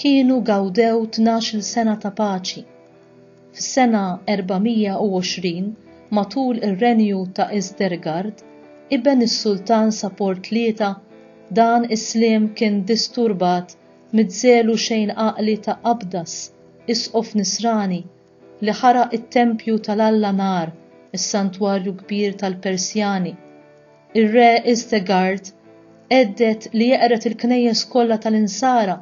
kienu gawdew tnax-il sena ta' paċi. Fis-sena 420, matul ir-renju ta' Isdergard, iben is-Sultan Sapor Tlieta, dan is-sliem kien disturbat miż-żelu xejn għaqli ta' Abdas, isqof Nisrani, li ħaraq it-tempju tal-alla nar, is-santwarju kbir tal-Persjani. Ir-re Istegard għedded li jeqred il-knejjes kollha tal-Insara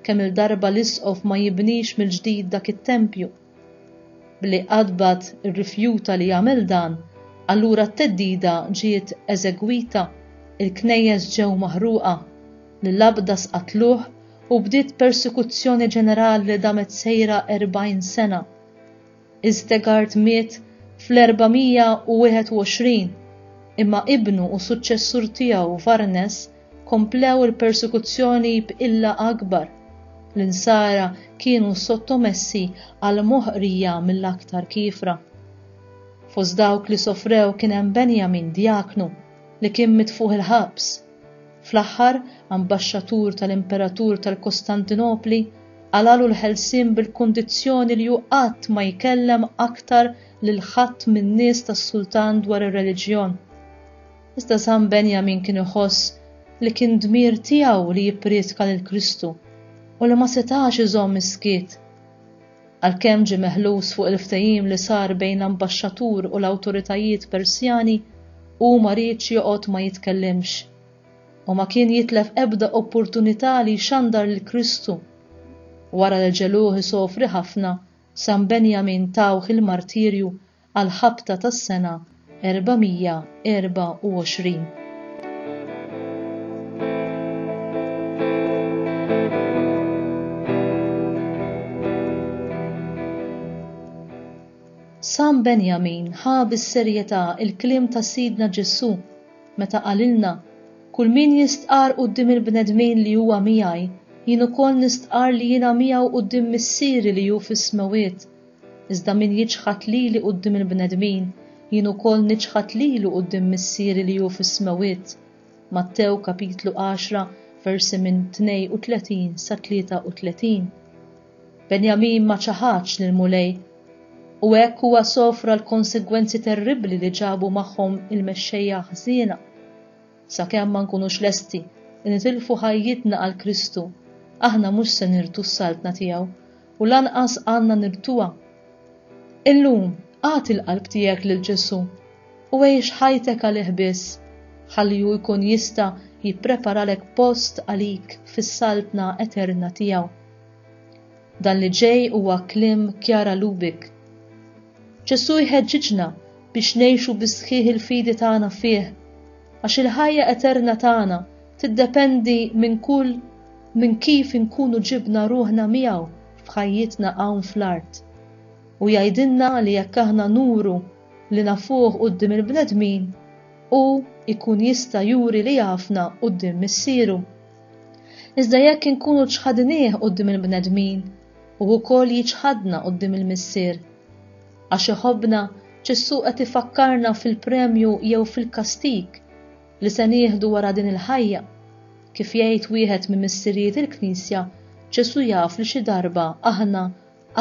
kemm-il darba l-isqof ma jibnix mill-ġdid dak it-tempju. Billi Qadbat irrifjuta li jagħmel dan, allura t-theddida ġiet eżegwita, il-knejjes ġew maħruqa, l-Abdas qatluh u bdiet persekuzzjoni ġenerali li damet sejra 40 sena. Istegard miet fl-421, imma ibnu u suċċessur tiegħu Varnes komplew il-persekuzzjoni b'qilla akbar. L-Insara kienu sottomessi għal moħqrija mill-aktar kiefra. Fost dawk li sofrew kien hemm Benjamin, djaknu, li kien mitfugħ il-ħabs. Fl-aħħar, ambaxxatur tal-imperatur tal-Kostantinopli qalagħlu l-ħelsien bil-kundizzjoni li hu qatt ma jkellem aktar lil ħadd min-nies tas-sultan dwar ir-reliġjon. Iżda San Benjamin kien iħoss li kien dmir tiegħu li jipprietka lil Kristu u li ma setax iżomm is-skiet. Għalkemm ġie meħlus fuq il-ftehim li sar bejn l-ambaxxatur u l-awtoritajiet Persjani, hu ma riedx joqgħod ma jitkellimx, u ma kien jitlef ebda opportunità li jxandar lil Kristu. Wara li ġegħluh isofri ħafna, San Benjamin tawh il-martirju għall-ħabta tas-sena 424. San Benjamin ħa bis-serjetà l-kliem ta' Sidna Ġesù meta qalilna, Kull min jistqarr quddiem il-bnedmin li huwa miegħi, jien ukoll nistqarr li jiena miegħu quddiem Missieri li hu fis-smewwiet. Iżda min jiċħad lili quddiem il-bnedmin, jien ukoll niċħad lilu quddiem Missieri li hu fis-smewwiet. Mattew kapitlu għaxra versi minn 32 sa 33. Benjamin ma ċaħadx lill-Mulej, u hekk huwa sofra l-konsegwenzi terribbli li ġabu magħhom il-mexxejja ħżiena. Sakemm ma nkunux lesti li nitilfu ħajjitna għal Kristu, aħna mhux se nirtu s-Saltna tiegħu u lanqas għandna nirtuha. Illum, agħti l-qalb tiegħek lil Ġesù u għix ħajtek għalih biss, ħalli hu jkun jista' jippreparalek post għalik fis-Saltna eterna tiegħu. Dan li ġej huwa kliem Chiara Lubich. Ġesù jħeġġiġna biex ngħixu bis-sħiħ il-fidi tagħna fih, għax il-ħajja eterna tagħna tiddependi minn kull minn kif inkunu ġibna ruħna miegħu f'ħajjitna hawn fl-art. U jgħidilna li jekk aħna nuru li nafuh quddiem il-bnedmin, hu jkun jista' juri li jafna quddiem Missieru. Iżda jekk inkunu ċħadnieh quddiem il-bnedmin, hu wkoll jiċħadna quddiem il-Missier. Għax iħobbna, Ġesù qed ifakkarna fil-premju jew fil-kastig li se nieħdu wara din il-ħajja. Kif jgħid wieħed minn missirijiet il-Knisja, Ġesù jaf li xi darba aħna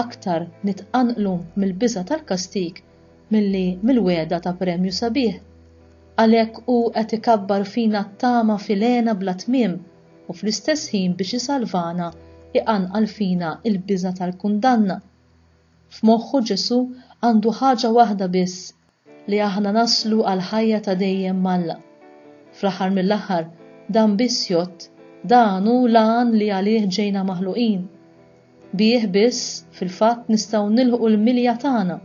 aktar nitqanqlu mill-biża' tal-kastig milli mill-wegħda ta' premju sabiħ. Għalhekk hu qed ikabbar fina t-tama f'ilgħena bla tmiem u fl-istess ħin biex isalvana iqanqal fina l-biża' tal-kundanna. F'moħħu Ġesù għandu ħaġa waħda biss, li aħna naslu għall-ħajja ta' dejjem m'Alla. Fl-aħħar mill-aħħar dan biss jgħodd, dan hu l-għan li għalih ġejna maħluqin. Bih biss, fil-fatt, nistgħu nilħqu l-milja tagħna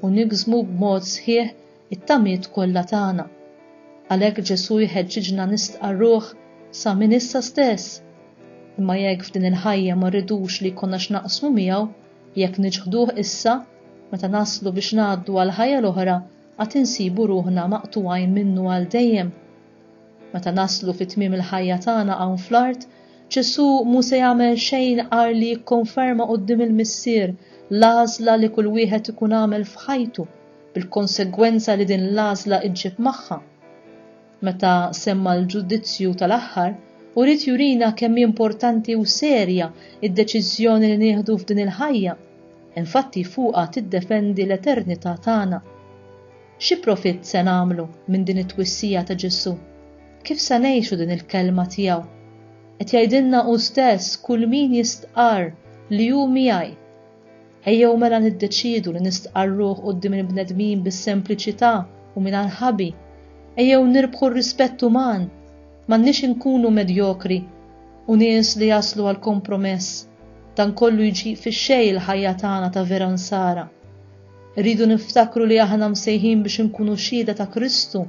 u niksbu b'mod sħiħ it-tamiet kollha tagħna. Għalhekk Ġesù jħeġġiġna nistqarruh sa minn issa stess. Imma jekk f'din il-ħajja ma rridux li jkollna x'naqsmu miegħu, jekk niċħduh issa, meta naslu biex ngħaddu għall-ħajja l-oħra għad insibu ruħna maqtugħin minnu għal dejjem. Meta naslu fi tmiem il-ħajja tagħna hawn fl-art, Ġesù mhu se jagħmel xejn agħar li jikkonferma quddiem il-Missier l-għażla li kull wieħed ikun għamel f'ħajtu, bil-konsegwenza li din l-għażla ġġib magħha. Meta semma l-ġudizzju tal-aħħar, u ried jurina kemm hi importanti u serja d-deċiżjoni li nieħdu f'din il-ħajja, infatti fuqha tiddefendi l-eternità tagħna. Xi profitt se nagħmlu minn din it-twissija ta' Ġesù? Kif se ngħixu din il-kelma tiegħu? Qed jgħidilna hu stess kull min jistqarr li hu miegħi. Ejjew mela niddeċiedu li nistqarruh quddiem il-bnedmin bis-sempliċità u mingħajr ħabi. Ejjew nirbħu r-rispett uman. M'għandniex inkunu medjokri u nies li jaslu għal kompromess. Dan kollu jġib fix-xejn il-ħajja tagħna ta' vera nsara. Irridu niftakru li aħna msejħin biex inkunu xhieda ta' Kristu,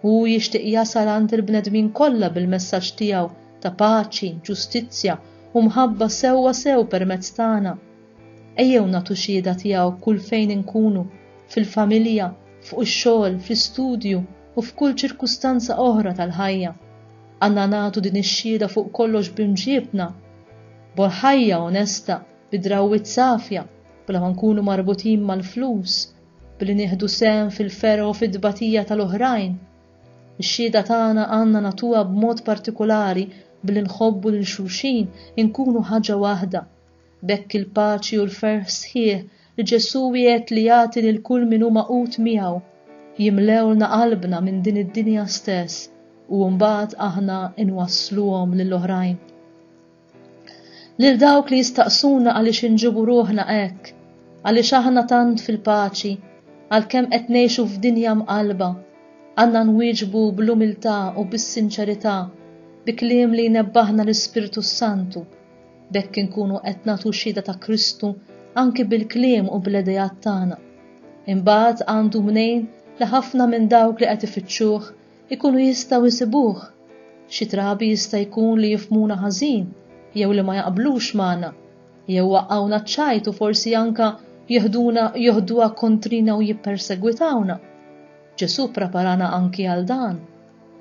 u hu jixtieq jasal għand il-bnedmin kollha bil-messaġġ tiegħu ta' paċi, ġustizzja, u mħabba sewwa sew permezz tagħna. Ejjew nagħtu xhieda tiegħu kull fejn inkunu, fil-familja, fuq ix-xogħol, fl-istudju, u f'kull ċirkustanza oħra tal-ħajja. Għandna nagħtu din ix-xhieda fuq kollox b'imġiebna, b'ħajja onesta, bi drawwiet safja, bla ma nkunu marbutin mal-flus, billi nieħdu sehem fil-fergħ u fit-tbatija tal-oħrajn. Ix-xhieda tagħna għandna nagħtuha b'mod partikulari billi nħobbu lil xulxin, inkunu ħaġa waħda. B'hekk il-paċi u l-ferħ sħiħ li Ġesù wiegħed li jagħti lil kull min hu magħqud miegħu, jimlewlna qalbna minn din id-dinja stess u mbagħad aħna nwassluhom lill-oħrajn. Lil dawk li jistaqsuna għaliex inġibu ruħna hekk, għaliex aħna tant fil-paċi, għalkemm qed ngħixu f'dinja mqallba, għandna nwieġbu bl-umiltà u bis-sinċerità bi kliem li jnebbaħna l-Ispirtu s-Santu. B'hekk inkunu qed nagħtu xhieda ta' Kristu anki bil-kliem u bl-ideat tagħna. Imbagħad għandu mnejn li ħafna minn dawk li qed ifittxuh ikunu jistgħu jsibuh. Xi drabi jista' jkun li jifhmuna ħażin jew li ma jaqblux magħna, jew waqgħuna ċ-ċajt u forsi anke jeħduna joħduha kontrina u jippersegwitawna. Ġesù ppreparana anki għal dan.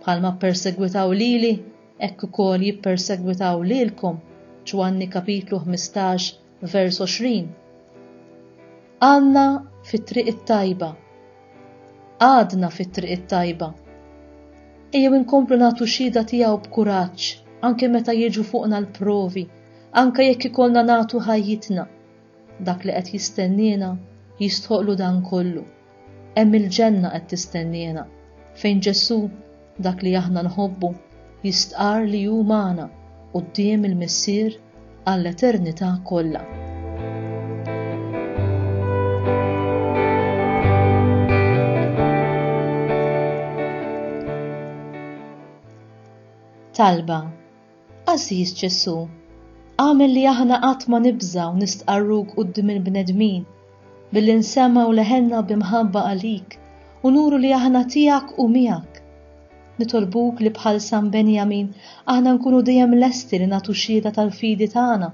Bħalma ppersegwitaw lili, hekk ukoll jippersegwitaw lilkom, Ġwanni kapitlu 15 Vers 20 Għadna fit-triq it-tajba. Għadna fit-triq it-tajba. Ejjew inkomplu nagħtu xhieda tiegħu b'kuraġġ anke meta jiġu fuqna l-provi, anke jekk ikollna nagħtu ħajjitna. Dak li qed jistenniena jistħoqlu dan kollu. Hemm il-ġenna qed tistenniena, fejn Ġesù, dak li aħna nħobbu, jistqarr li hu magħna quddiem il-Missier għall-eternità kollha. Talba Għażiż Ġesù, agħmel li aħna qatt ma nibżgħu nistqarruk quddiem il-bnedmin, billi nsemmgħu leħenna bi mħabba għalik u nuru li aħna tiegħek u miegħek. Nitolbuk li bħal San Benjamin aħna nkunu dejjem lesti li nagħtu xhieda tal-fidi tagħna,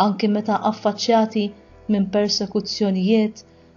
anki meta affaċċjati minn persekuzzjonijiet